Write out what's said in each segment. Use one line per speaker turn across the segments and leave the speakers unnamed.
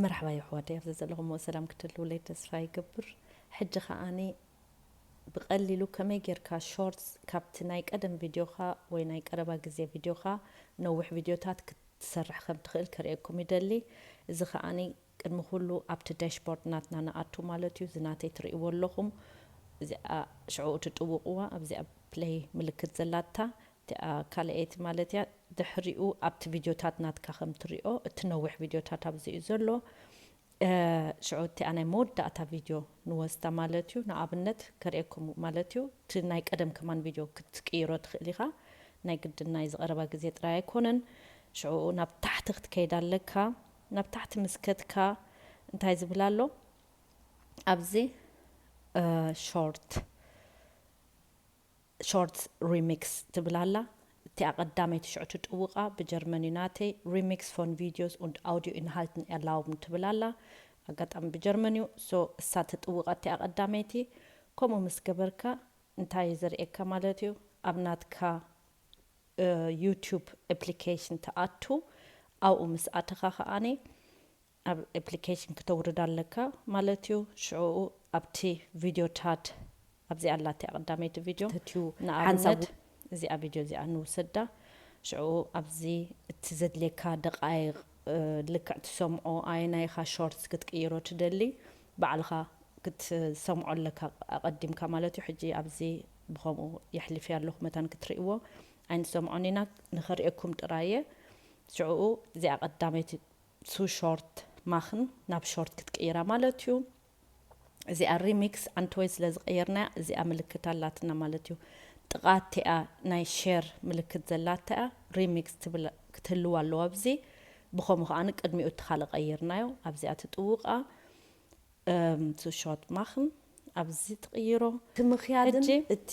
መርሓባ የሕዋተይ ኣብ ዘዘለኹምዎ ሰላም ክትህልዉለይ ተስፋ ይገብር ሕጂ ከኣ ብቀሊሉ ከመይ ጌርካ ሾርትስ ካብቲ ናይ ቀደም ቪድዮኻ ወይ ናይ ቀረባ ግዜ ቪድዮኻ ነዊሕ ቪድዮታት ክትሰርሕ ከም ትኽእል ከርእየኩም ይደሊ እዚ ከኣ ቅድሚ ኩሉ ኣብቲ ዳሽቦርድ ናትና ንኣቱ ማለት እዩ እዚ ናተይ ትርእይዎ ኣለኹም እዚኣ ሽዕኡ ትጥውቕዋ ኣብዚኣ ፕለይ ምልክት ዘላታ እቲኣ ካልኣይቲ ማለት እያ ድሕሪኡ ኣብቲ ቪድዮታት ናትካ ከም ትሪኦ እቲ ነዊሕ ቪድዮታት ኣብዚ እዩ ዘሎ ሽዑ እቲኣ ናይ መወዳእታ ቪድዮ ንወስዳ ማለት እዩ ንኣብነት ከርእየኩም ማለት እዩ እቲ ናይ ቀደም ከማን ቪድዮ ክትቅይሮ ትኽእል ኢኻ ናይ ግድን ናይ ዝቐረባ ግዜ ጥራይ ኣይኮነን ሽዑኡ ናብ ታሕቲ ክትከይድ ኣለካ ናብ ታሕቲ ምስ ከድካ እንታይ ዝብል ኣሎ ኣብዚ ሾርት Short Remix ትብል ኣላ። እቲኣ ቀዳመይቲ ሽዑ ትጥውቃ ብጀርመን እዩ ናተይ፣ Remix von Videos und Audioinhalten erlauben ትብል ኣላ። ኣጋጣሚ ብጀርመን እዩ so እሳ ትጥውቃ እቲኣ ቀዳመይቲ። ከምኡ ምስ ገበርካ እንታይ እዩ ዘርእየካ ማለት እዩ ኣብ ናትካ Youtube Application ትኣቱ ኣብኡ ምስ ኣተኻ ከኣ ኣብ ኤፕሊኬሽን ክተውርድ ኣለካ ማለት እዩ ሽዑኡ ኣብቲ ቪድዮ ቻት ኣብዚኣ ኣላትያ ቀዳመይቲ ቪድዮ ተትዩ ንኣብነት እዚኣ ቪድዮ እዚኣ ንውሰዳ ሽዑኡ ኣብዚ እቲ ዘድልየካ ደቃይቅ ልክዕ ትሰምዖ ኣየናይ ኢካ ሾርትስ ክትቅይሮ ትደሊ ባዕልካ ክትሰምዖ ኣለካ ኣቀዲምካ ማለት እዩ ሕጂ ኣብዚ ብከምኡ የሕሊፊያ ኣለኩ መታን ክትርእይዎ ኣይንሰምዖን ኢና ንክርእየኩም ጥራይ እየ ሽዑኡ እዚኣ ቀዳመይቲ ቱ ሾርት ማኽን ናብ ሾርት ክትቅይራ ማለት እዩ። እዚኣ ሪሚክስ ዓንተወይ ስለ ዝቐየርናያ እዚኣ ምልክት ኣላትና ማለት እዩ። ጥቓ እቲኣ ናይ ሼር ምልክት ዘላታ እያ ሪሚክስ ትብል ክትህልው ኣለዋ ኣብዚ። ብኸምኡ ከኣ ቅድሚኡ እቲ ካልእ ቀይርናዮ ኣብዚኣ ትጥውቃ ቱ ሾርት ማኽን ኣብዚ ትቕይሮ። እቲ ምኽያድን እቲ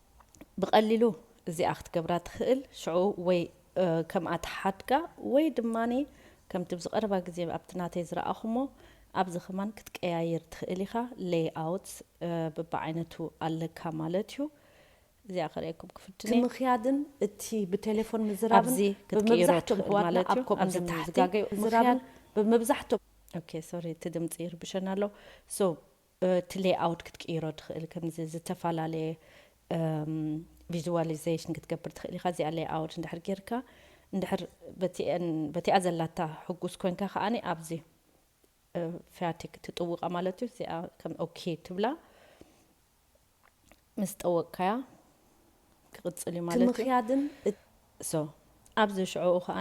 ብቀሊሉ እዚኣ ክትገብራ ትክእል ሽዑ ወይ ከምኣ ትሓድጋ ወይ ድማ ከምቲ ኣብዚ ቀረባ ግዜ ኣብቲ ናተይ ዝረኣኹሞ ኣብዚ ከማን ክትቀያይር ትክእል ኢካ ለይ ኣውት ብብዓይነቱ ኣለካ ማለት እዩ እዚኣ ከርእየኩም ክፍትን እየ ምክያድን እቲ
ብቴሌፎን ምዝራብን ኣብዚ ክትቅይሮ ብመብዛሕትኦም
ትክእል ኣሕዋትና ማለት ኣብ እዩ ከምኡ ኣብዚ
ታሕቲ ዝጋገዩ ምዝራብን ምክያድ
ብምብዛሕትኦም ኦኬ ሶሪ እቲ ድምፂ ይርብሸና ኣሎ ሶ እቲ ሌይኣውት ክትቅይሮ ትኽእል ከምዚ ዝተፈላለየ ቪዝዋሊዘሽን ክትገብር ትኽእል ኢኻ እዚኣ ሌይኣውት እንድሕር ጌርካ እንድሕር በቲኤን በቲኣ ዘላታ ሕጉስ ኮንካ ከኣ ኣብዚ ፊያቲክ ትጥውቃ ማለት እዩ እዚኣ ከም ኦኬ ትብላ። ምስ ጠወቅካያ ክቅጽል እዩ ማለት እዩ። ትምክያድን
So
ኣብዚ ሽዑኡ ከኣ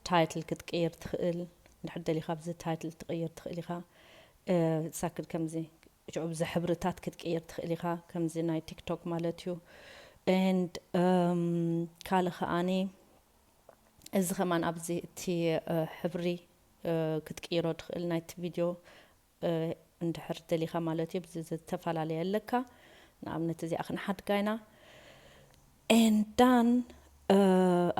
Title ክትቅይር ትክእል እንድሕር ደሊካ ኣብዚ Title ትቅይር ትክእል ኢካ ሳክል ከምዚ ሽዑ ብዚ ሕብርታት ክትቅይር ትክእል ኢካ ከምዚ ናይ TikTok ማለት እዩ And ካልእ ከኣ እዚ ከማን ኣብዚ እቲ ሕብሪ ክትቅይሮ ትክእል ናይቲ Video እንድሕር ደሊኻ ማለት እዩ ብዚ ዝተፈላለየ ኣለካ ንኣብነት እዚኣ ክንሓድጋ ኢና and done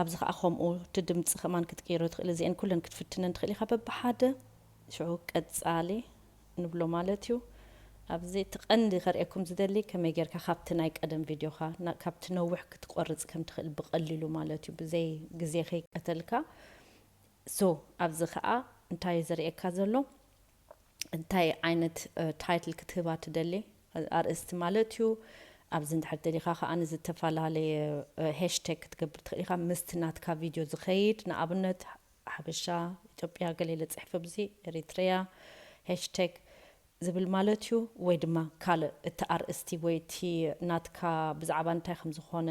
ኣብዚ ከዓ ከምኡ እቲ ድምፂ ከማን ክትቅይሮ ትኽእል እዚኤን ኩለን ክትፍትነን ትኽእል ኢኻ በብሓደ ሽዑ ቀፃሊ ንብሎ ማለት እዩ ኣብዚ እቲ ቀንዲ ከርእየኩም ዝደሊ ከመይ ጌርካ ካብቲ ናይ ቀደም ቪድዮኻ ካብቲ ነዊሕ ክትቆርፅ ከም ትኽእል ብቐሊሉ ማለት እዩ ብዘይ ግዜ ከይቀተልካ So ኣብዚ ከኣ እንታይ እዩ ዘርእየካ ዘሎ እንታይ ዓይነት ታይትል ክትህባ ትደሊ ኣርእስቲ ማለት እዩ ኣብዚ እንድሕር ደሊካ ከኣ ዝተፈላለየ ሀሽተግ ክትገብር ትክእል ኢካ ምስቲ ናትካ ቪድዮ ዝከይድ ንኣብነት ሓበሻ ኢትዮጵያ ገለ ኢለ ጽሕፈ ኣብዚ ኤሪትሪያ ሀሽተግ ዝብል ማለት እዩ ወይ ድማ ካልእ እቲ ኣርእስቲ ወይ እቲ ናትካ ብዛዕባ እንታይ ከም ዝኾነ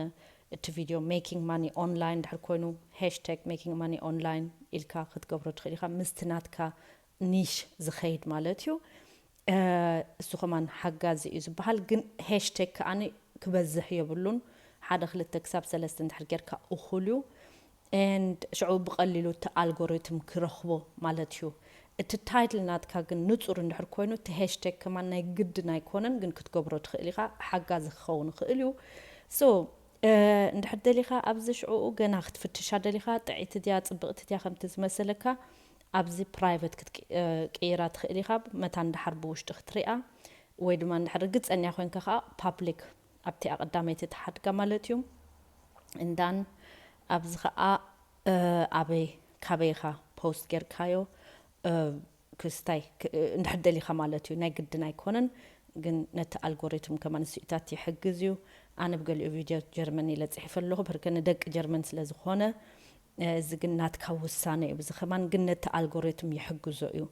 እቲ ቪድዮ Making Money Online ድሕር ኮይኑ hashtag Making Money Online ኢልካ ክትገብሮ ትኽእል ኢኻ ምስቲ ናትካ Niche ዝኸይድ ማለት እዩ እሱ ከማን ሓጋዚ እዩ ዝበሃል ግን hashtag ከኣ ክበዝሕ የብሉን ሓደ ክልተ ክሳብ ሰለስተ እንድሕር ጌርካ እኹል እዩ and ሽዑ ብቀሊሉ እቲ ኣልጎሪትም ክረክቦ ማለት እዩ እቲ ታይትል ናትካ ግን ንጹር እንድሕር ኮይኑ እቲ ሀሽተግ ከማን ናይ ግድን ኣይኮነን ግን ክትገብሮ ትክእል ኢካ ሓጋዚ ክከውን ይክእል እዩ so እንድሕር ደሊካ ኣብዚ ሽዑኡ ገና ክትፍትሻ ደሊካ ጥዕይቲ ድያ ጽብቅቲ ድያ ከምቲ ዝመሰለካ ኣብዚ ፕራይቨት ክትቅይራ ትክእል ኢካ መታን ድሓር ብውሽጢ ክትሪኣ ወይ ድማ እንድሕር ርግጸኛ ኮይንካ ከኣ ፓብሊክ ኣብቲኣ ቀዳመይቲ ትሓድጋ ማለት እዩ እንዳን ኣብዚ ከኣ ኣበይ ካበይ ኢኻ ፖስት ጌርካዮ ክስታይ እንድሕር ደሊኻ ማለት እዩ ናይ ግድን ኣይኮነን ግን ነቲ ኣልጎሪትም ከማን ስዩታት ይሕግዝ እዩ ኣነ ብገሊኡ ቪድዮ ጀርመን ኢለ ጽሒፈ ኣለኹ ብህርከ ንደቂ ጀርመን ስለ ዝኾነ እዚ ግን ናትካ ውሳነ እዩ እዚ ከማን ግን ነቲ ኣልጎሪትም ይሕግዞ እዩ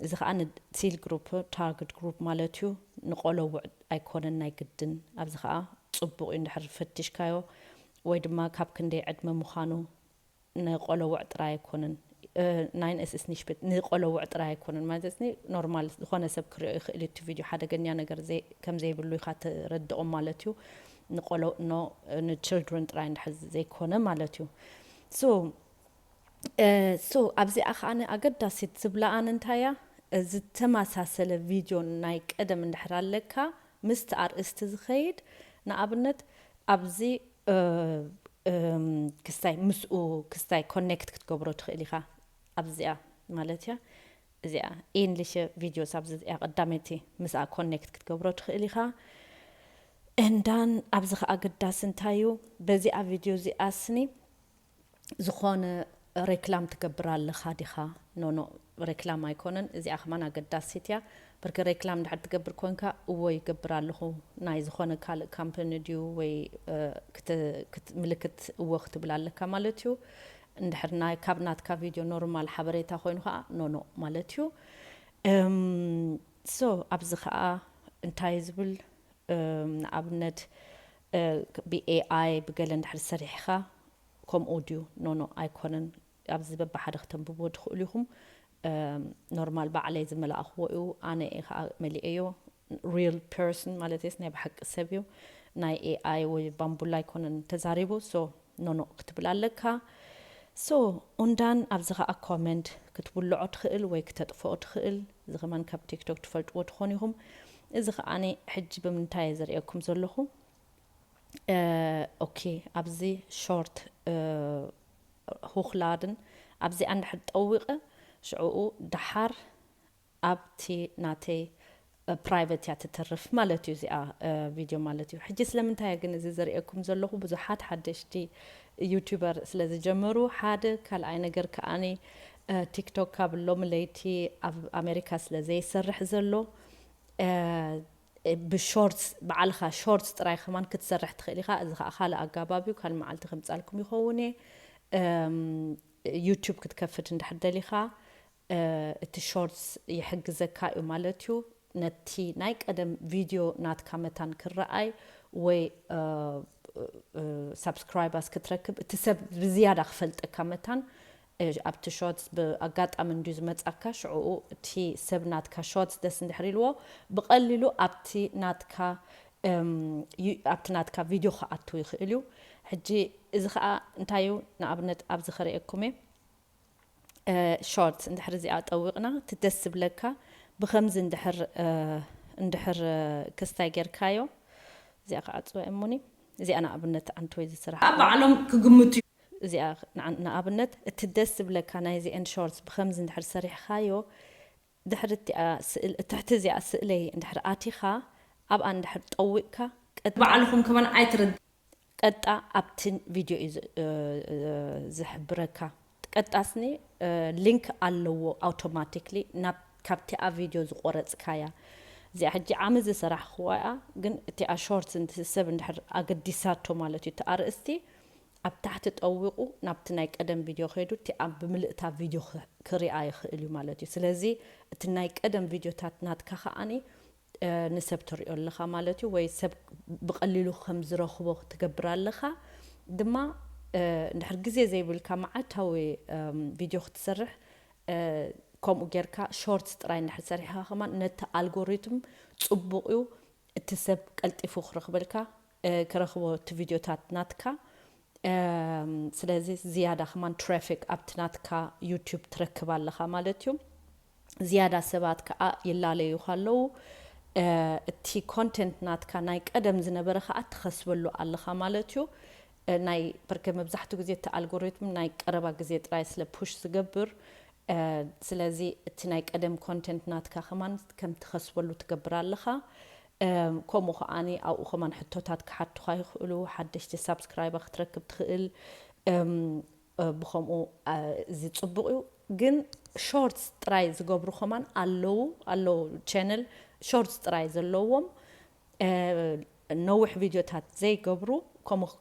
እዚ ከኣ ን ጺል ግሩፕ ታርግድ ግሩፕ ማለት እዩ ንቆሎውዕ ኣይኮነን ናይ ግድን ኣብዚ ከኣ ጽቡቅ እዩ እንድሕር ፈቲሽካዮ ወይ ድማ ካብ ክንደይ ዕድመ ምዃኑ ንቆሎውዕ ጥራይ ኣይኮነን ናይን እስ እስ ኒሽፕት ንቆሎውዕ ጥራይ ኣይኮነን ማለት እስ ኖርማል ዝኾነ ሰብ ክሪኦ ይኽእል እዩ እቲ ቪድዮ ሓደገኛ ነገር ዘይ ከም ዘይብሉ ኢኻ ትረድኦም ማለት እዩ ንቆሎኡ ን ን children ጥራይ እንድሕር ዘይኮነ ማለት እዩ so እ so ኣብዚኣ ከኣ ኣገዳሲት ዝብላ ኣነ እንታይ እያ ዝተማሳሰለ video ናይ ቀደም እንድሕር ኣለካ ምስቲ ኣርእስቲ ዝኸይድ ንኣብነት ኣብዚ እ እ ክስታይ ምስኡ ክስታይ connect ክትገብሮ ትኽእል ኢኻ ኣብዚኣ ማለት እያ እዚኣ ኢንሊሸ ቪድዮስ ኣብዚ እዚኣ ቀዳመይቲ ምስኣ ኮኔክት ክትገብሮ ትኽእል ኢኻ እንዳን ኣብዚ ከኣ ኣገዳሲ እንታይ እዩ በዚኣ ቪድዮ እዚኣ ስኒ ዝኾነ ሬክላም ትገብር ኣለኻ ዲኻ ኖኖ ሬክላም ኣይኮነን እዚኣ ከማን ኣገዳሲት እያ ብርክ ሬክላም እንድሕር ትገብር ኮንካ እዎ ይገብር ኣለኹ ናይ ዝኾነ ካልእ ካምፕኒ ድዩ ወይ ምልክት እዎ ክትብል ኣለካ ማለት እዩ እንድሕር ናይ ካብ ናትካ ቪድዮ ኖርማል ሓበሬታ ኮይኑ ከኣ ኖኖ ማለት እዩ እም ሶ ኣብዚ ከኣ እንታይ ዝብል እም ንኣብነት እ ብ AI ብገለ እንድሕር ሰሪሕካ ከምኡ ድዩ ኖኖ ኣይኮነን ኣብዚ በብሓደ ክተንብብዎ ትክእሉ ኢኩም እም ኖርማል ባዕለይ ዝመላእክዎ እዩ ኣነ እየ ከኣ መሊኤዮ ሪል ፐርሰን ማለተይስ ናይ ብሓቂ ሰብ እዩ ናይ ኤኣይ ወይ ባምቡላ ኣይኮነን ተዛሪቡ ሶ ኖኖእ ክትብል ኣለካ ሶ ኡንዳን ኣዚ ከኣ ኮመንድ ክትብሎዖ ትክእል ወይ ክተጥፎኦ ትክእል እዚ ከማን ካብ ቲክቶክ ትፈልጥዎ ትኮኑ ኢኩም እዚ ከኣ ሕጂ ብምንታይ እየ ዝርእየኩም ዘለኩ ኦኬ ኣብዚ ሾርት ሁክላድን ኣብዚኣ እንድሕር ጠዊቀ ሽዑኡ ደሓር ኣብቲ ናተይ ፕራይቨት እያ ትትርፍ ማለት እዩ እዚኣ ቪድዮ ማለት እዩ ሕጂ ስለምንታይ እየ ግን እዚ ዘርእየኩም ዘለኹ ብዙሓት ሓደሽቲ ዩቲበር ስለ ዝጀመሩ ሓደ ካልኣይ ነገር ከኣኒ ቲክቶክ ካብ ሎሚ ለይቲ ኣብ ኣሜሪካ ስለ ዘይሰርሕ ዘሎ ብሾርትስ በዓልኻ ሾርትስ ጥራይ ከማን ክትሰርሕ ትኽእል ኢኻ እዚ ከዓ ካልእ ኣጋባብ እዩ ካልእ መዓልቲ ከምጻልኩም ይኸውን እየ ዩቲዩብ ክትከፍት እንድሕር ደሊኻ እቲ ሾርትስ ይሕግዘካ እዩ ማለት እዩ ነቲ ናይ ቀደም ቪድዮ ናትካ መታን ክረኣይ ወይ ሳብስክራይባስ ክትረክብ እቲ ሰብ ብዝያዳ ክፈልጠካ መታን ኣብቲ ሾርትስ ብኣጋጣሚ እንድዩ ዝመጻካ ሽዕኡ እቲ ሰብ ናትካ ሾርትስ ደስ እንድሕር ኢልዎ ብቐሊሉ ኣብቲ ናትካ ኣብቲ ናትካ ቪድዮ ክኣቱ ይኽእል እዩ ሕጂ እዚ ከዓ እንታይ እዩ ንኣብነት ኣብዚ ከርእየኩም እየ ሾርት እንድሕር እዚኣ ጠዊቅና እቲ ደስ ዝብለካ ብከምዚ እንድሕር እንድሕር ክስታይ ጌርካዮ እዚኣ ከዓ ፅወ እሙኒ እዚኣ ንኣብነት ኣንትወይ ዝስራሕ ባዕሎም ክግምቱ
እዩ። እዚኣ
ንኣብነት እቲ ደስ ዝብለካ ናይዚኤን ሾርት ብከምዚ እንድሕር ሰሪሕካዮ ድሕሪ እቲኣ ስእሊ ትሕቲ እዚኣ ስእለይ እንድሕር ኣቲኻ ኣብኣ እንድሕር ጠዊቕካ ቀጥታ። ባዕልኹም ከማን
ኣይትርዳእ። ቀጥታ
ኣብቲ ቪድዮ እዩ ዝሕብረካ ቀጥታ ስኒ link ኣለዎ ኣውቶማቲክሊ ናብ ካብቲኣ ቪድዮ ዝቖረጽካያ እዚኣ ሕጂ ዓመት ዝሰራሕክዋ እያ ግን እቲኣ ሾርት ሰብ እንድሕር ኣገዲሳቶ ማለት እዩ እቲ ኣርእስቲ ኣብ ታሕቲ ጠዊቑ ናብቲ ናይ ቀደም ቪድዮ ከይዱ እቲ ኣብ ብምልእታ ቪድዮ ክሪኣ ይኽእል እዩ ማለት እዩ። ስለዚ እቲ ናይ ቀደም ቪድዮታት ናትካ ከኣ ንሰብ ተሪኦ ኣለኻ ማለት እዩ ወይ ሰብ ብቐሊሉ ከም ዝረኽቦ ትገብር ኣለኻ ድማ እንድሕር ግዜ ዘይብልካ መዓልታዊ ቪድዮ ክትሰርሕ ከምኡ ጌርካ ሾርትስ ጥራይ እንድሕር ሰሪሕኻ ከማን ነቲ ኣልጎሪትም ጽቡቕ እዩ እቲ ሰብ ቀልጢፉ ክረኽበልካ ክረክቦ እቲ ቪድዮታት ናትካ ስለዚ ዝያዳ ከማን ትራፊክ ኣብቲ ናትካ ዩቱብ ትረክብ ኣለካ ማለት እዩ ዝያዳ ሰባት ከኣ ይላለዩካ ኣለዉ እቲ ኮንተንት ናትካ ናይ ቀደም ዝነበረ ከኣ ትከስበሉ ኣለካ ማለት እዩ ናይ በርከ መብዛሕትኡ ግዜ እቲ ኣልጎሪትም ናይ ቀረባ ግዜ ጥራይ ስለ ፑሽ ዝገብር ስለዚ እቲ ናይ ቀደም ኮንተንት ናትካ ከማን ከም ትከስበሉ ትገብር ኣለካ ከምኡ ከኣ ኣብኡ ከማን ሕቶታት ክሓቱኻ ይኽእሉ ሓደሽቲ ሳብስክራይባ ክትረክብ ትኽእል ብከምኡ እዚ ጽቡቅ እዩ ግን ሾርትስ ጥራይ ዝገብሩ ከማን ኣለዉ ኣለዉ ቸነል ሾርትስ ጥራይ ዘለዎም ነዊሕ ቪድዮታት ዘይገብሩ ከምኡ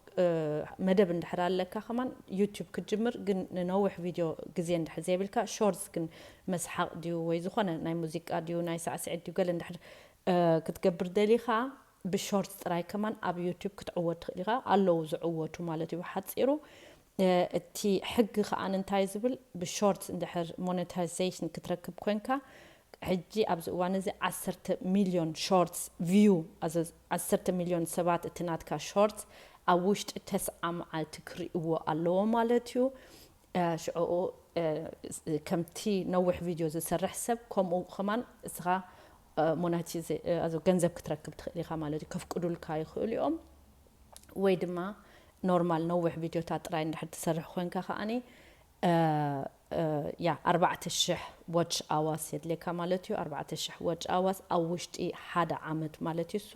መደብ እንድሕር ኣለካ ከማን ዩቲዩብ ክትጅምር ግን ንነዊሕ ቪድዮ ግዜ እንድሕር ዘይብልካ ሾርትስ ግን መስሓቅ ድዩ ወይ ዝኾነ ናይ ሙዚቃ ድዩ ናይ ሳዕስዒት ድዩ ገለ እንድሕር ክትገብር ደሊኻ ብሾርት ጥራይ ከማን ኣብ ዩቱብ ክትዕወት ትኽእል ኢኻ ኣለዉ ዝዕወቱ ማለት እዩ ብሓጺሩ እቲ ሕጊ ከኣ እንታይ ዝብል ብሾርት እንድሕር ሞነታይዜሽን ክትረክብ ኮንካ ሕጂ ኣብዚ እዋን እዚ ዓሰርተ ሚልዮን ሾርትስ ቪዩ ዓሰርተ ሚልዮን ሰባት እቲ ናትካ ሾርት ኣብ ውሽጢ ተስዓ መዓልቲ ክርእይዎ ኣለዎ ማለት እዩ ሽዑኡ ከምቲ ነዊሕ ቪድዮ ዝሰርሕ ሰብ ከምኡ ከማን እስኻ ሞናቲዘ ኣዞ ገንዘብ ክትረክብ ትኽእል ኢኻ ማለት እዩ ከፍቅዱልካ ይኽእሉ እዮም ወይ ድማ ኖርማል ነዊሕ ቪድዮታት ጥራይ እንድሕር ትሰርሕ ኮንካ ከዓኒ ያ ኣርባዕተ ሽሕ ዋች ኣዋስ የድልየካ ማለት እዩ ኣርባዕተ ሽሕ ዋች ኣዋስ ኣብ ውሽጢ ሓደ ዓመት ማለት እዩ እሱ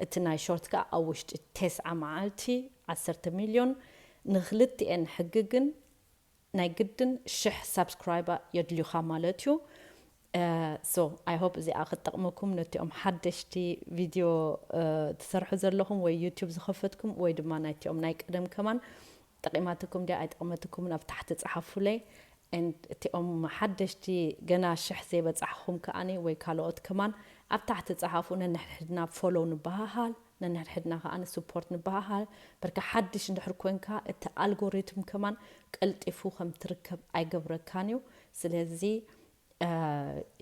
እቲ ናይ ሾርት ከዓ ኣብ ውሽጢ ቴስዓ መዓልቲ ዓሰርተ ሚልዮን ንክልቲኤን ሕጊ ግን ናይ ግድን ሽሕ ሳብስክራይባ የድልዩካ ማለት እዩ so i hope እዚኣ ክትጠቅመኩም ነቲኦም ሓደሽቲ ቪድዮ ትሰርሑ ዘለኹም ወይ ዩቲዩብ ዝኸፈትኩም ወይ ድማ ናይቲኦም ናይ ቀደም ከማን ጠቂማትኩም ድያ ኣይጠቅመትኩምን ኣብ ታሕቲ ጸሓፉለይ and እቲኦም ሓደሽቲ ገና ሽሕ ዘይበጻሕኹም ከኣኒ ወይ ካልኦት ከማን ኣብ ታሕቲ ጸሓፉ ነንሕድሕድና ፎሎው ንበሃሃል ነንሕድሕድና ከኣ ንስፖርት ንበሃሃል። በርካ ሓድሽ እንድሕር ኮንካ እቲ ኣልጎሪትም ከማን ቀልጢፉ ከም ትርከብ ኣይገብረካን እዩ። ስለዚ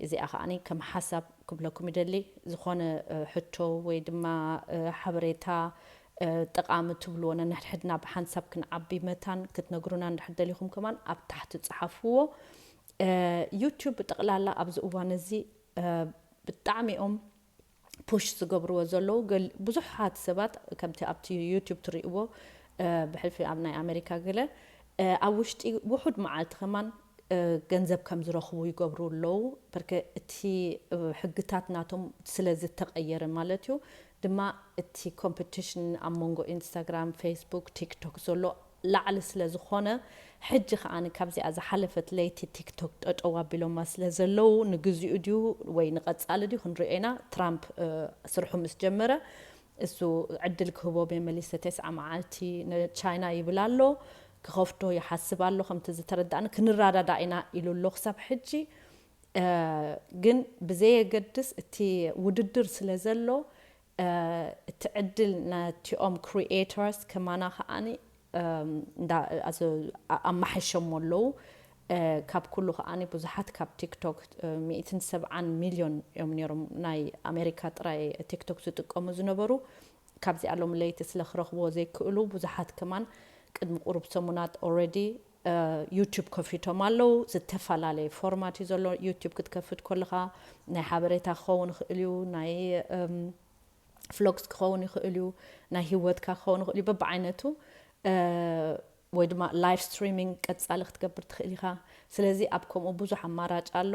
እዚኣ ከኣ ከም ሓሳብ ክብለኩም ይደሊ። ዝኾነ ሕቶ ወይ ድማ ሓበሬታ ጠቓሚ ትብልዎ ነንሕድሕድና ብሓንሳብ ክንዓቢ መታን ክትነግሩና እንድሕር ደሊኹም ከማን ኣብ ታሕቲ ጽሓፍዎ። ዩቱብ ብጠቕላላ ኣብዚ እዋን እዚ ብጣዕሚ እዮም ፑሽ ዝገብርዎ ዘለዉ ገል ብዙሓት ሰባት ከምቲ ኣብቲ ዩቱብ ትሪእዎ ብሕልፊ ኣብ ናይ ኣመሪካ ገለ ኣብ ውሽጢ ውሑድ መዓልቲ ከማን ገንዘብ ከም ዝረኽቡ ይገብሩ ኣለዉ በርከ እቲ ሕግታት ናቶም ስለ ዝተቀየረ ማለት እዩ ድማ እቲ ኮምፕቲሽን ኣብ መንጎ ኢንስታግራም ፌስቡክ ቲክቶክ ዘሎ ላዕሊ ስለ ዝኾነ ሕጂ ከኣ ካብዚኣ ዝሓለፈት ለይቲ ቲክቶክ ጠጠው ኣቢሎማ ስለ ዘለዉ ንግዚኡ ድዩ ወይ ንቀጻሊ ድዩ ክንሪኦ ኢና ትራምፕ ስርሑ ምስ ጀመረ እሱ ዕድል ክህቦ ሜመሊሰ ቴስዓ መዓልቲ ንቻይና ይብል ኣሎ ክኸፍቶ ይሓስብ ኣሎ ከምቲ ዝተረዳእኒ ክንራዳዳእ ኢና ኢሉ ኣሎ ክሳብ ሕጂ ግን ብዘየገድስ እቲ ውድድር ስለ ዘሎ እቲ ዕድል ነቲኦም ክሪኤተርስ ከማና ከኣ እንዳ ኣማሐይሸሞ ኣለዉ ካብ ኩሉ ከኣ ብዙሓት ካብ ቲክቶክ ሚእትን ሰብዓን ሚልዮን እዮም ነይሮም ናይ ኣሜሪካ ጥራይ ቲክቶክ ዝጥቀሙ ዝነበሩ ካብዚኣ ሎም ለይቲ ስለ ክረኽብዎ ዘይክእሉ ብዙሓት ከማን ቅድሚ ቁሩብ ሰሙናት ኦረዲ ዩቱብ ከፊቶም ኣለዉ ዝተፋላለየ ፎርማት እዩ ዘሎ ዩቱብ ክትከፍት ኮለኻ ናይ ሓበሬታ ክኸውን ይኽእል እዩ ናይ ፍሎግስ ክኸውን ይኽእል እዩ ናይ ሂወትካ ክኸውን ይኽእል እዩ በብዓይነቱ ወይ ድማ ላይቭ ስትሪሚንግ ቀጻሊ ክትገብር ትኽእል ኢኻ ስለዚ ኣብ ከምኡ ብዙሕ ኣማራጭ ኣሎ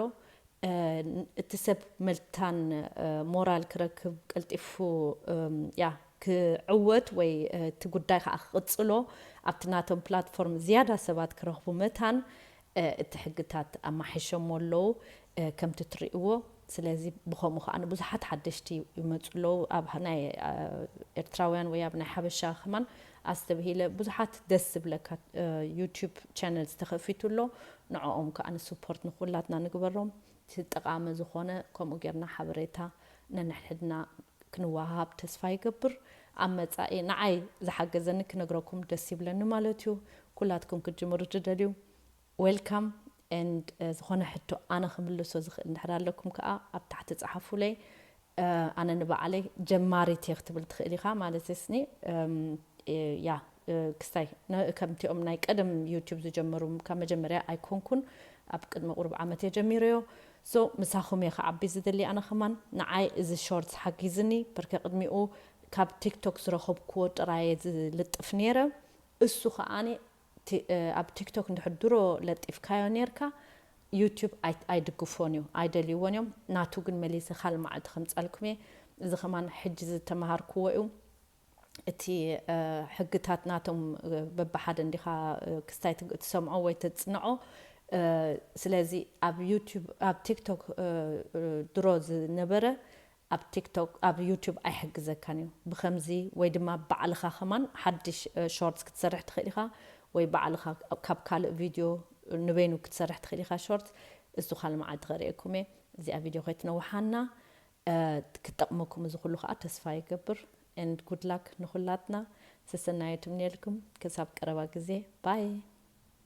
እቲ ሰብ መልታን ሞራል ክረክብ ቀልጢፉ ያእ ክዕወት ወይ እቲ ጉዳይ ከኣ ክቕጽሎ ኣብቲ ናቶም ፕላትፎርም ዝያዳ ሰባት ክረኽቡ መታን እቲ ሕግታት ኣማሕይሸሞ ኣለዉ ከምቲ ትርእይዎ ስለዚ ብኸምኡ ከኣ ብዙሓት ሓደሽቲ ይመጹ ኣለዉ ኣብ ናይ ኤርትራውያን ወይ ኣብ ናይ ሓበሻ ከማን ኣስተብሂለ ብዙሓት ደስ ዝብለካ ዩቱብ ቻነልስ ተኸፊቱ ኣሎ ንዖኦም ክኣ ንስፖርት ንኹላትና ንግበሮም እቲ ጠቓሚ ዝኾነ ከምኡ ጌርና ሓበሬታ ነንሕድሕድና ክንወሃሃብ ተስፋ ይገብር ኣብ መጻኢ ንዓይ ዝሓገዘኒ ክነግረኩም ደስ ይብለኒ ማለት እዩ ኩላትኩም ክትጅምሩ ትደልዩ Welcome and ዝኾነ ሕቶ ኣነ ክምልሶ ዝኽእል እንድሕር ኣለኩም ከኣ ኣብ ታሕቲ ጸሓፉለይ ኣነ ንባዕለይ ጀማሪት እየ ክትብል ትኽእል ኢኻ ማለትስ ኒ ያ ክስታይ ከምቲኦም ናይ ቀደም ዩቱብ ዝጀመሩ ካብ መጀመርያ ኣይኮንኩን ኣብ ቅድሚ ቁሩብ ዓመት እየ ጀሚረዮ ሶ ምሳኹም እየ ክዓቢ ዝደሊ ኣነ ከማን ንዓይ እዚ ሾርትስ ሓጊዝኒ በርከ ቅድሚኡ ካብ ቲክቶክ ዝረኸብክዎ ጥራየ ዝልጥፍ ነይረ እሱ ከኣ ኣብ ቲክቶክ እንድሕር ድሮ ለጢፍካዮ ኔርካ ዩቱብ ኣይድግፎን እዩ ኣይደልይዎን እዮም ናቱ ግን መሊሰ ካልእ መዓልቲ ከምጸልኩም እየ እዚ ከማን ሕጂ ዝተመሃርክዎ እዩ እቲ ሕግታት ናቶም በብሓደ እንዲኻ ክስታይ ትሰምዖ ወይ ተጽንዖ ስለዚ ኣብ ዩቱብ ኣብ ቲክቶክ ድሮ ዝነበረ ኣብ ቲክቶክ ኣብ ዩቱብ ኣይሕግዘካን እዩ ብከምዚ ወይ ድማ ባዕልካ ከማን ሓድሽ ሾርትስ ክትሰርሕ ትክእል ኢካ ወይ ባዕልካ ካብ ካልእ ቪድዮ ንበይኑ ክትሰርሕ ትክእል ኢካ ሾርትስ እሱ ካልእ መዓልቲ ከርእየኩም እየ እዚኣ ቪድዮ ከይትነውሓና ክትጠቅመኩም እዚ ኩሉ ከኣ ተስፋ ይገብር and good luck ንኩላትና ሰሰናዩ ትምንየልኩም ክሳብ ቀረባ ግዜ ባይ